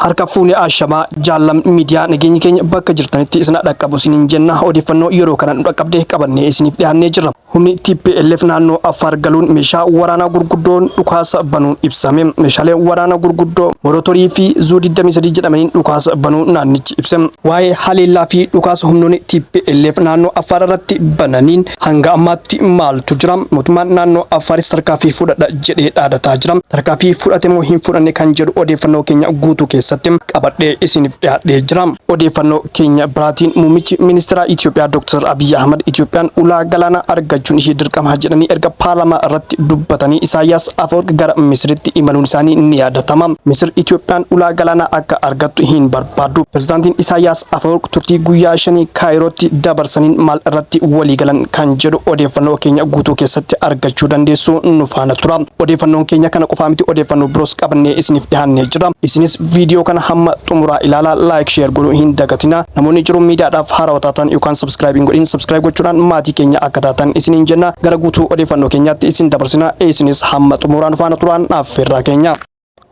harka fuune ashamaa jaallam miidiyaa nageenyi keenya bakka jirtanitti isin dhaqqabu isiniin jenna odeeffannoo yeroo kana nu dhaqqabde qabannee isiniif dhiyaannee jirra. Humni tplf naannoo Affaar galuun meeshaa waraanaa gurguddoon dhukaasa banuun ibsame. Meeshaalee waraanaa gurguddoo Morotorii fi Zuu 23 jedhamaniin dhukaasa banuu naannichi ibse. Waa'ee haleellaa fi dhukaasa humnoonni tplf naannoo Affaar irratti bananiin hanga ammaatti maaltu jira? Mootummaan naannoo Affaaris tarkaanfii fudhadha jedhee dhaadataa jira. Tarkaanfii fudhate moo hin fudhanne kan jedhu odeeffannoo keenya guutuu keessatti qabadhee isiniif dhiyaadhee jira. Odeeffannoo Keenya biraatiin muummichi ministeeraa Itoophiyaa Dooktar Abiyyi Ahmad Itoophiyaan ulaa galaanaa argachuun ishee dirqama jedhanii erga paarlaamaa irratti dubbatanii Isaayyaas Afawarqi gara Misiritti imaluun isaanii ni yaadatama. Misir Itoophiyaan ulaa galaanaa akka argattu hin barbaaddu. Pirezidaantiin Isaayyaas Afawarqi turtii guyyaa shanii Kaayirootti dabarsaniin maal irratti waliigalan kan jedhu odeeffannoo keenya guutuu keessatti argachuu dandeessu nu faana tura. Odeeffannoon keenya kana qofaa miti odeeffannoo biroos qabannee isiniif dhihaannee jira. Isinis viidiyoo kana hamma xumuraa ilaalaa laayik sheer godhuu hin dagatinaa. Namoonni jiruun miidiyaadhaaf haarawa taatan yookaan sabskiraayib hin godhin sabskiraayib gochuudhaan maatii keenya akka taatan isiniin jenna. Gara guutuu odeeffannoo keenyaatti isin dabarsina. Isinis hamma xumuraa nu faana turaan affeerraa keenya.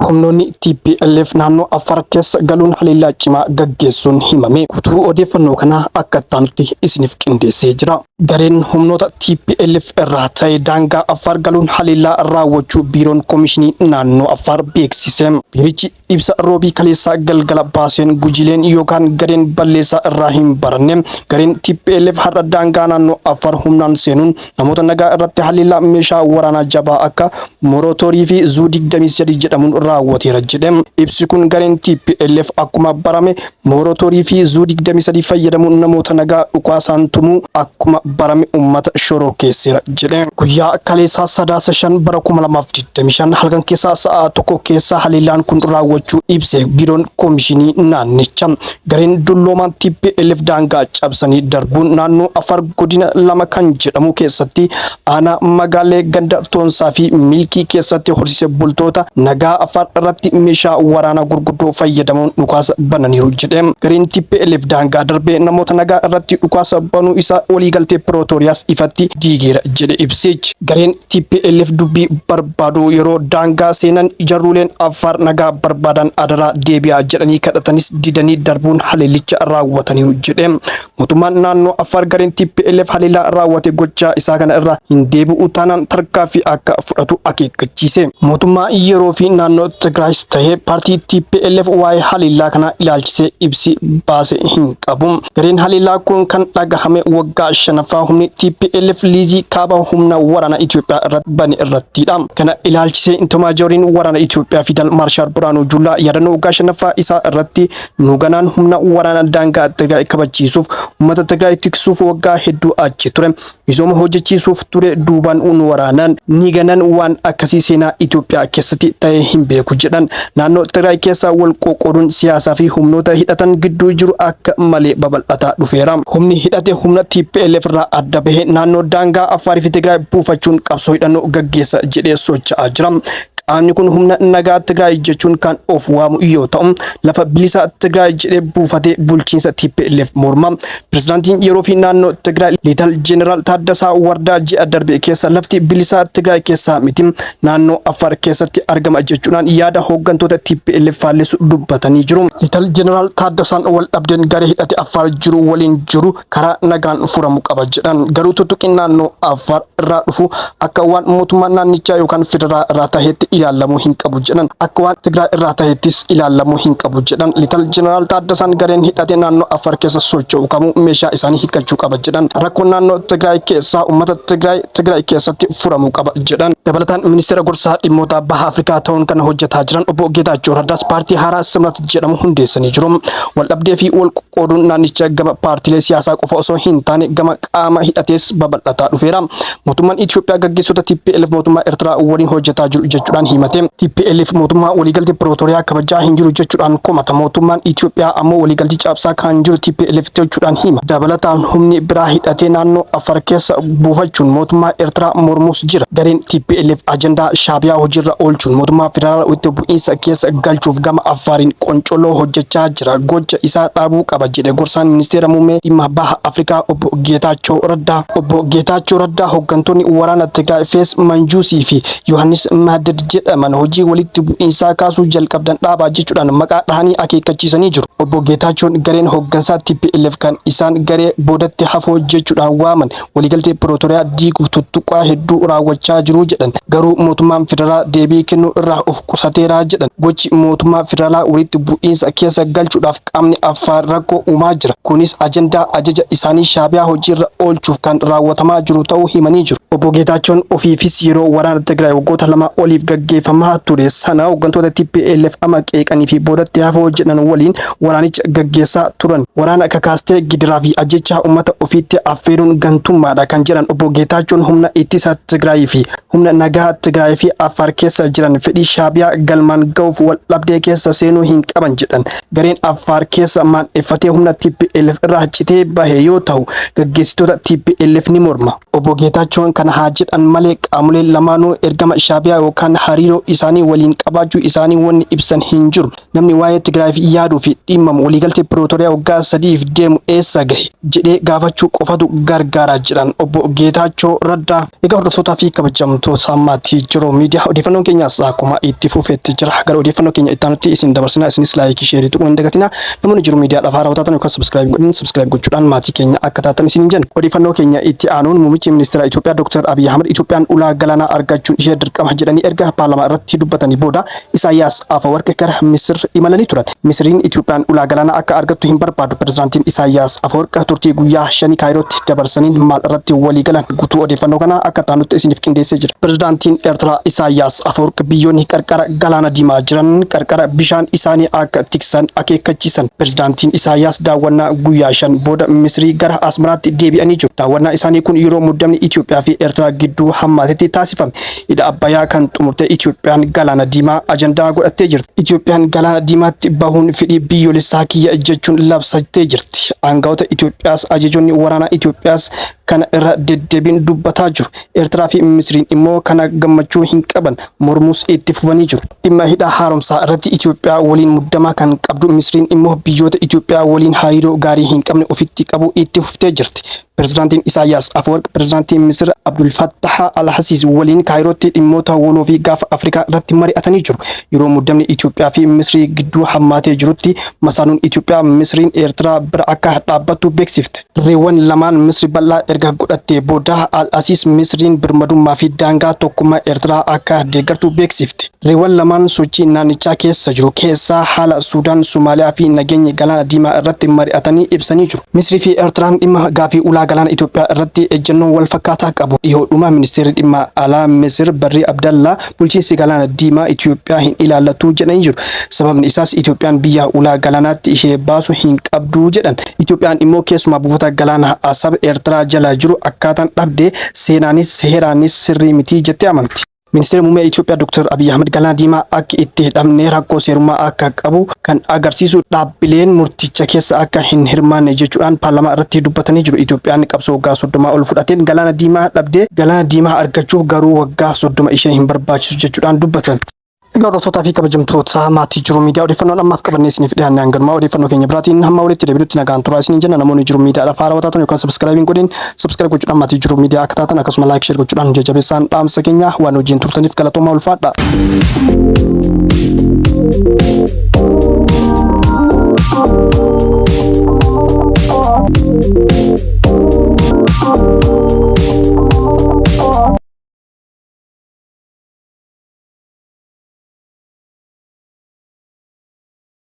Humnoonni TPLF naannoo Affaar keessa galuun haleellaa cimaa gaggeessuun himame. Guutuu odeeffannoo kanaa akka ittaanutti isiniif qindeessee jira. Gareen humnoota TPLF irraa ta'e daangaa Affaar galuun haleellaa raawwachuu Biiroon Komishinii Naannoo Affaar beeksise. Biirichi ibsa Roobii kaleessaa galgala baaseen gujileen yookaan gareen balleessaa irraa hin baranne gareen TPLF har'a daangaa naannoo Affaar humnaan seenuun namoota nagaa irratti haleellaa meeshaa waraanaa jabaa akka morotoorii fi zuu 23 jedhamuun raawwateera jedhe. Ibsi kun gareen TPLF akkuma barame morotoorii fi zuu 23 fayyadamuun namoota nagaa dhukaasaan tumuu akkuma barame uummata shororkeesseera jedhe. Guyyaa kaleessaa sadaasa 5 bara 2025 halkan keessaa sa'a tokko keessa haleellaan kun raawwachuu ibse biiroon koomishinii naannicha. Gareen dulloomaan TPLF daangaa cabsanii darbuun naannoo Afar godina lama kan jedhamu keessatti aanaa magaalee ganda Toonsaa fi Milkii keessatti horsiise bultoota nagaa Afar irratti meeshaa waraanaa gurguddoo fayyadamuun dhukaasa bananiiru jedhe. Gareen TPLF daangaa darbee namoota nagaa irratti dhukaasa banuu isaa waliigaltee Pirootooriyaas ifatti diigeera jedhe ibsichi. Gareen TPLF dubbii barbaadu yeroo daangaa seenan jarruuleen Affaar nagaa barbaadan adaraa deebi'aa jedhanii kadhatanis didanii darbuun haleellicha raawwataniiru jedhe. Mootummaan naannoo Affaar gareen TPLF haleellaa raawwate gochaa isaa kana irraa hin deebi'u taanaan tarkaaffii akka fudhatu akeekkachiise. Mootummaa yeroo fi naannoo Tigraayis tahee paartii TPLF waa'ee haleellaa kanaa ilaalchisee ibsi baase hin qabu. Gareen haleellaa kun kan dhagahame waggaa shanaffaa humni TPLF liizii kaaba humna waraana Itoophiyaa irratti bane irrattidha. Kana ilaalchisee Intomaajoriin waraana Itoophiyaa Fiidal Maarshaal Birhaanuu Juullaa yaadannoo waggaa shanaffaa isaa irratti nu ganaan humna waraana daangaa Tigraay kabachiisuuf uummata Tigraay tiksuuf waggaa hedduu achi ture. Misooma hojjechiisuuf ture duubaan nu waraanan, ni ganan waan akkasii seenaa Itoophiyaa keessatti ta'ee hin beeku jedhan. Naannoo Tigraay keessaa wal qoqqooduun siyaasaa fi humnoota hidhatan gidduu jiru akka malee babal'ataa dhufeera. Humni hidhate humna tplf irraa adda bahee naannoo daangaa Affaarii fi Tigraay buufachuun qabsoo hidhannoo gaggeessa jedhee socha'aa jira. Qaamni kun humna nagaa Tigraay jechuun kan of waamu yoo ta'u, lafa bilisaa Tigraay jedhee buufatee bulchiinsa tplf morma. Pirezidaantiin yeroo fi naannoo Tigraay Liital Jeneraal Taaddasaa Wardaa ji'a darbe keessa lafti bilisaa Tigraay keessaa miti naannoo Affaar keessatti argama jechuudhaan yaada hooggantoota TPLF faallisu dubbatanii jiru. Liital Jeneraal Taaddasaan wal dhabdeen garee hidhate Affaar jiru waliin jiru karaa nagaan furamu qaba jedhan. Garuu tuttuqiin naannoo Affaar irraa dhufu akka waan mootummaa naannichaa yookaan federaa irraa taheetti ilaalamuu hin qabu jedhan akka waan Tigraay irraa taheettis ilaalamuu hin qabu jedhan lital jeneraal Taaddasaan gareen hidhate naannoo Affaar keessa socho'u kamuu meeshaa isaanii hiikkachuu qaba jedhan rakkoo naannoo Tigraay keessaa uummata Tigraay Tigraay keessatti furamuu qaba jedhan dabalataan ministeera gorsaa dhimmoota baha Afrikaa ta'uun kan hojjetaa jiran obbo Geetaachoo Raddaas paartii haaraa Simrat jedhamu hundeessanii jiru waldhabdee fi wal qoqqooduun naannicha gama paartiilee siyaasaa qofa osoo hin taane gama qaama hidhatees babal'ataa dhufeera. Mootummaan Itoophiyaa gaggeessota TPLF mootummaa Eertiraa waliin hojjetaa jiru jechuudhaan himate. TPLF mootummaa waliigaltee Pirootoriyaa kabajaa hin jiru jechuudhaan komata. Mootummaan Itoophiyaa ammoo waliigaltee cabsaa kan jiru TPLF jechuudhaan hima. Dabalataan humni biraa hidhatee naannoo Afar keessa buufachuun mootummaa Eertiraa mormuus jira. Gareen TPLF ajandaa Shaabiyaa hojiirra oolchuun mootummaa federaalaa walitti bu'iinsa keessa galchuuf gama Afaariin qoncoloo hojjechaa jira gocha isaa dhaabuu qaba jedhe gorsaan ministeera muummee dhimma baha Afrikaa obbo Geetaachoo Raddaa. Obbo Geetaachoo Raddaa hooggantoonni waraana Tigraay Fees Manjuusii fi Yohaannis Mahdad jedhaman hojii walitti bu'iinsaa kaasuu jalqabdan dhaabaa jechuudhaan maqaa dhahanii akeekkachiisanii jiru. Obbo Geetaachoon gareen hooggansaa TPLF kan isaan garee boodatti hafoo jechuudhaan waaman waliigaltee Pirootoriyaa diiguuf tuttuqqaa hedduu raawwachaa jiru jedhan. Garuu mootummaan federaalaa deebii kennuu irraa of qusateera jedhan. Gochi mootummaa federaalaa walitti bu'iinsa keessa galchuudhaaf qaamni Affaar rakkoo uumaa jira. Kunis ajandaa ajaja isaanii Shaabiyaa hojiirra oolchuuf kan raawwatamaa jiru ta'uu himanii jiru. Obbo Geetaachoon ofiifis yeroo waraana Tigraay waggoota lamaa oliif gaggeeffamaa ture sana hoggantoota tplf ama qeeqanii fi boodatti hafoo jedhan waliin waraanicha gaggeessaa turan. Waraana kakaastee gidiraa fi ajjechaa uummata ofiitti affeeruun gantummaadha kan jedhan obbo Geetaachoon humna ittisa Tigraayii fi humna nagaa Tigraayii fi Affaar keessa jiran fedhii Shaabiyaa galmaan ga'uuf wal dhabdee keessa seenuu hin qaban jedhan. Gareen Affaar keessa maandheffatee humna TPLF irraa citee bahe yoo ta'u gaggeessitoota TPLF ni morma. Obbo Geetaachoon kana haa jedhan malee qaamoleen lamaanuu ergama Shaabiyaa yookaan hariiroo isaanii waliin qabaachuu isaanii wanni ibsan hin jiru. Namni waa'ee Tigraayiif yaaduu fi dhimmamu waliigaltee Pirootoriyaa waggaa sadiif deemu eessa gahe jedhee gaafachuu qofatu gargaara jedhan obbo Geetaachoo Raddaa. Egaa hordoftootaa fi kabajamtoota maatii Jiruu Miidiyaa odeeffannoon keenyaas akkuma itti fufeetti jira. Gara odeeffannoo keenya itti aanutti isin dabarsina. Isinis laayikii sheerii tuquu hin dagatina. Namoonni Jiruu Miidiyaadhaaf haarawaa taatan yookaan sabiskiraayib hin godhin sabiskiraayib gochuudhaan maatii keenya akka taatan isiniin jenna. Odeeffannoo keenya itti aanuun Muummichi Ministeeraa Itoophiyaa Dooktar Abiy Ahmad Itoophiyaan ulaa galaanaa argachuun ishee dirqama jedhanii erga paarlamaa irratti dubbatanii booda Isaayyaas Afawarqi gara Misir imalanii turan. Misiriin Itoophiyaan ulaa galaanaa akka argattu hin barbaadu Pirezidaantiin Isaayyaas Afawarq turtii guyyaa shanii Kaayirootti dabarsaniin maal irratti walii galan? Gutuu odeeffannoo kanaa akka itti aanutti isiniif qindeessee jira. Pirezidaantiin Ertiraa Isaayyaas Afawarq biyyoonni qarqara Galaana Diimaa jiran qarqara bishaan isaanii akka tiksan akeekkachiisan. Pirezidaantiin Isaayyaas daawwannaa guyyaa shan booda Misirii gara Asmaraatti deebi'anii jiru. Daawwannaa isaanii kun yeroo muddamni Itoophiyaa fi Ertiraa gidduu hammaatetti taasifame. Hidha Abbayaa kan xumurte Itoophiyaan Galaana Diimaa ajandaa godhattee jirti. Itoophiyaan Galaana Diimaatti bahuun fedhii biyyoolessaa kiyya jechuun labsattee jirti. Aangawoota Itoophiyaas ajajoonni waraanaa Itoophiyaas kana irra deddeebiin dubbataa jiru. Eertiraa fi Misiriin immoo kana gammachuu hin qaban, mormuus itti fufanii jiru. Dhimma hidha haaromsaa irratti Itoophiyaa waliin muddama kan qabdu Misiriin immoo biyyoota Itoophiyaa waliin hariiroo gaarii hin qabne ofitti qabuu itti fuftee jirti. Pirezidaantiin Isaayyaas Afawarq Pirezidaantii Misir Abdul Fattaha Al-Hasiis waliin Kaayirootti dhimmoota waloo fi gaafa Afrikaa irratti mari'atanii jiru. Yeroo muddamni Itoophiyaa fi Misrii gidduu hammaatee jirutti masaanuun Itoophiyaa Misriin Eertiraa bira akka dhaabbattu beeksifte. Dirreewwan lamaan Misri bal'aa erga godhattee booda Al-Hasiis Misriin birmadummaa fi daangaa tokkummaa Eertiraa akka deeggartu beeksifte. Riiwwan lamaan sochii naannichaa keessa jiru keessaa haala Suudaan, Somaaliyaa fi nageenya Galaana Diimaa irratti mari'atanii ibsanii jiru. Misrii fi Ertiraan dhimma gaaffii ulaa galaana Itoophiyaa irratti ejjennoo wal fakkaataa qabu. Dhihoodhuma Ministeerri Dhimma Alaa Misir Barrii Abdallaa bulchiinsi Galaana Diimaa Itoophiyaa hin ilaallatu jedhanii jiru. Sababni isaas Itoophiyaan biyya ulaa galaanaatti ishee baasu hin qabdu jedhan. Itoophiyaan immoo keessumaa buufata galaanaa Asab Ertiraa jala jiru akkaataan dhabde seenaanis heeraanis sirrii miti jettee amanti. Ministeerri Muummee Itoophiyaa Dr. Abiy Ahmed Galaana Diimaa akki itti hidhamne rakkoo seerummaa akka qabu kan agarsiisu dhaabbileen murticha keessa akka hin hirmaanne jechuudhaan paarlamaa irratti dubbatanii jiru. Itoophiyaan qabsoo waggaa 30 ol fudhateen Galaana Diimaa dhabde. Galaana Diimaa argachuuf garuu waggaa 30 ishee hin barbaachisu jechuudhaan dubbatan. Egaa hordoftoota fi kabajamtoota maatii jiru miidiyaa odeeffannoon ammaaf qabannee isiniif dhiyaanne hanganumaa odeeffannoo keenya biraatiin hamma walitti deebinutti nagaan turaa isiniin jenna namoonni jiru miidiyaadhaaf haarawaa taatan yookaan sabiskiraayibiin godhin Subscribe gochuudhaan maatii jiruu miidiyaa akka taatan akkasuma like share gochuudhaan nu jajjabeessaan dhaamsa keenya waan hojiin turtaniif galatoomaa ulfaadha.